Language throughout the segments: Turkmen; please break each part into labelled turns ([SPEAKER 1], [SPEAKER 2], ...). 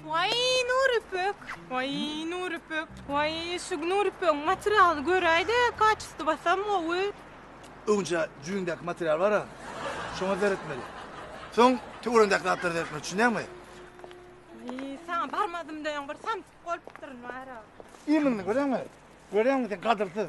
[SPEAKER 1] Waý, Nurüpek! Waý, Nurüpek! Waý, şu Nurüpegiň materialyny göräý-de, kaçystyp atsam gowy. Öňje jüýňdäki material bar-a, şoňa seretmeli. Soň töweregiňdäki zatlara seretmeli, düşünýäňmi? Waý, saňa barmadym diýen bir samsyk bolupdyryn, bar-a. Iýmiňi göreňmi? Göreňmi sen gadyrsyz?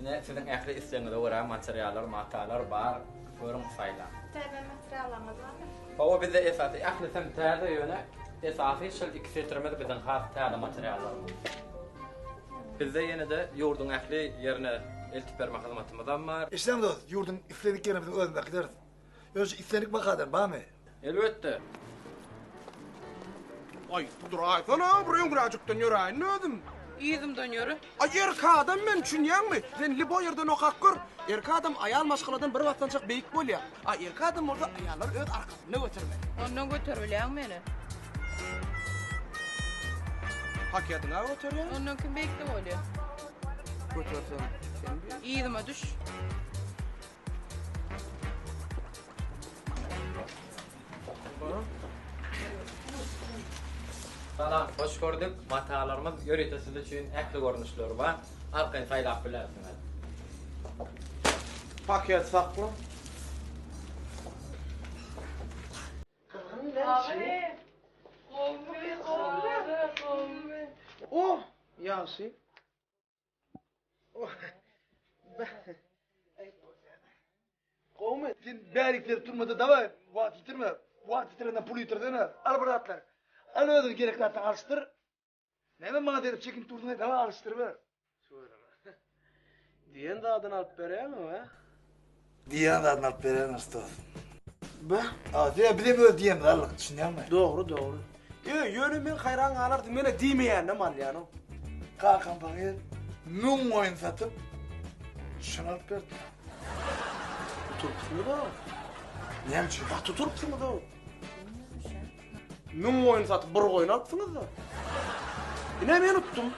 [SPEAKER 1] Ine, siziň ähli islegiňize görä materiallar, matalar bar, görüň, saýlaň. Täze materiallaryňyz barmy? Hawa, bizde esasy ählisem täze, ýöne esasy şol iki setirimiz biziň has täze materiallarymyz. Bizde ýene-de ýurduň ähli ýerine eltip berme hyzmatymyzam bar. Eşideňiz dost, ýurduň isledik ýerine biziň özümiz äkideris. Ýöne şu islendik bahadan barmy? Elbetde. Aý, duraýsana, bir öňräjikden ýöräýin özüm. Yzymdan ýöre. Aý, erkek adam men, çünýäňmi? Sen lib o ýerden okap gör. Erkek adam aýal maşgaladan bir basgançak beýik bolýar. A erkek adam bolsa aýallar öz arkasynda götermeli. Ondan göter bilýäňmi meni? Pakediňa göterýän. Ondan kim beýikde bolýar? Götersem, sen bir. Yzyma düş. Salam, hoş gördük. Matalarymyz ýörite siz üçin ähli görnüşleri bar. Arkaýyn saýlap bilersiňiz. Paket sakla. O, ýagşy. Gowmy? Sen bärik berip turmada daway, wagt ýitirme. Wagt ýitirenden pul ýitirsene. Al bir atlar. Al özüň gerekli atdan alşdyr. Näme maňa derip çekin turdyň, daway alşdyr ber. Diýen zadyny alyp beräýeňmi? Diýýän zadyny alyp berýän ustat. Be. A, diýýä biz hem öz diýenimizi aldyk, düşünýäňmi? Dogry, dogry. Ýö, ýöne men haýran galardym, menä diýmeýändem alýanow. Kakam pahyr müň goýun satyp, şuny alyp berdi. Oturupsyňyz-ow. Näme üçin? Gaty oturupsyňyz-ow. Müň goýun satyp bir goýun alypsyňyz-da. Ine men utdum.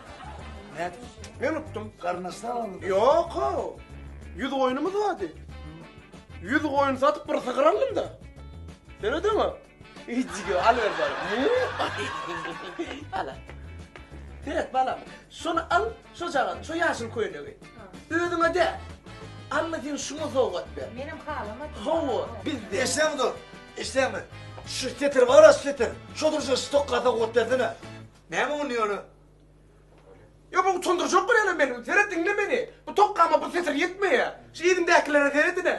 [SPEAKER 1] Nädip? Men utdum. Garnaşdan aldyň. Ýok-ow. Ýüz goýunymyz bardy. Ýüz goýun satyp bir sygyr aldym-da. Dörediňmi? Ejige al berdi. Ala. Deret balam. Şony al. Şojagaz, şo ýaşyl köýnegi. Özüňe dä. Alla seni şuňa sowgat ber. Menem halamadym. Hawa, bizde. Eşidäňmi dos? Eşidäňmi? Şu setir bar-a, şu setir. Şo durşuna şu tokga sowgat bersene. Näme onda ýöne? Ýa bu utandyrjak bir ýalam meni. Seret diňle meni. Bu tokgama bu setir ýetmeýär. Şu yzymdäkilere seredin-ä.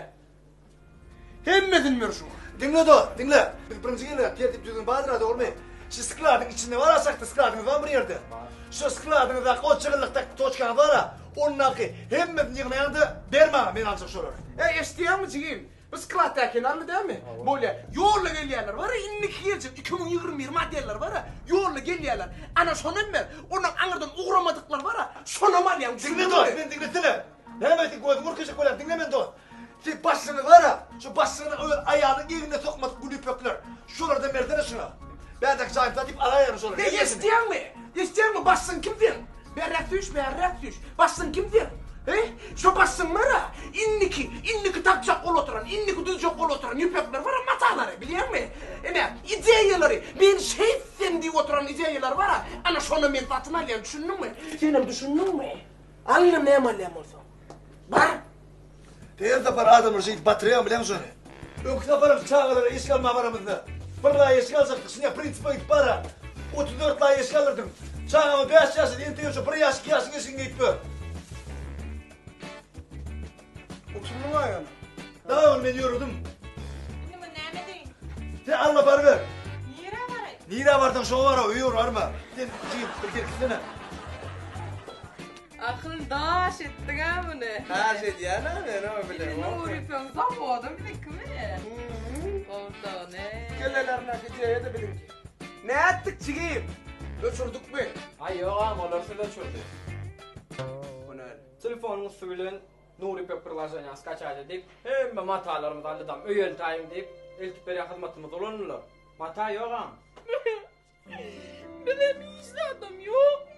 [SPEAKER 1] Hemmesini ber şuňa. Diňle dos, diňle. Biz birinji gelýäs, tertip düzgün bardyr-a, dogrymy? Şu skladyň içinde bar-a şahta skladyňyz barmy bir ýerde? Bar. Şo skladyňyzdaky ol çygyrlykdaky toçkaňyz bar-a, ondaky hemmesini ýygnaýaň-da, ber maňa, men aljak şolary. Äý, eşidýäňmi, jigim? Bu sklad tä kenarly dälmi? Bolýa. Ýolda gelýänler bar-a, indiki geljek iki müň ýigrimi bir modeller bar-a, ýolda gelýänler. Ana, şonam ber. Ondan aňyrdan ugramadyklar bar-a, şonam alýaň, düşündiňmi? Diňle dos, meni diňlesene. Näme sen gözüňi ürkejek bolýaň, diňle meni dos. Siz başyňyzy gara, şu başyňyzy öz aýalyň egnine sokmadyk gülüpekler. Şolarda merdene şuna. Bädäki jaýymyza diýip alaýagyň şolary. Heý eşitýäňmi? Eşitýäňmi başyň kim seň? Berräk süýş bärräk süýş. Başyň kim seň? He? Şo başyňy gara, indiki, indiki takjak ol oturan, indiki düzjek ol oturan ýüpekler bara matalary, bilýäňmi? Ine, ideýalary, men şeýtsem diýip oturan ideýalary bara, ana şony men satyn alýan, düşündiňmi? Senem düşündiňmi? Alýan näme alýan bolsaň? Bar! Her sapar adamlar şeýdip batyrýan bileň şony. Öňki saparam çagalara eşik almaga baramyzda, bir laý eşik aljakdyk, şinä prinsip öýdüp bara, otuz dört laý eşik aldyrdym. Çagama bäş ýaşydy, entegem şo bir ýaş, iki ýaşyň eşigini geýip ber. Oturma laý ony. Dagy ony men ýöredim. Indi muny näme ediň? Sen alla baryber. Nirä baraý? Nirä barsaň şoňa bara, öýe barma. Sen jigim, bir gelip gitsene. Akyl daş etdik a muny. Daş edýän a men o bilen. Indi Nury söň zawoda bizikimi? Gowsany. Kellelerine gijeýedi biziňki. Nätdik jigim? Öçürdikmi? Aý ýok agam olar siz öçürdi. Hünär. Telefonyň üsti bilen Nury pek priloženiýa skaçaýt edip, hemme matalarymyzy alydam öýeltäýiň diýip, eltip berýän hyzmatymyzy ulandylar. Mata ýok agam. Bize hiç zadam ýokmy?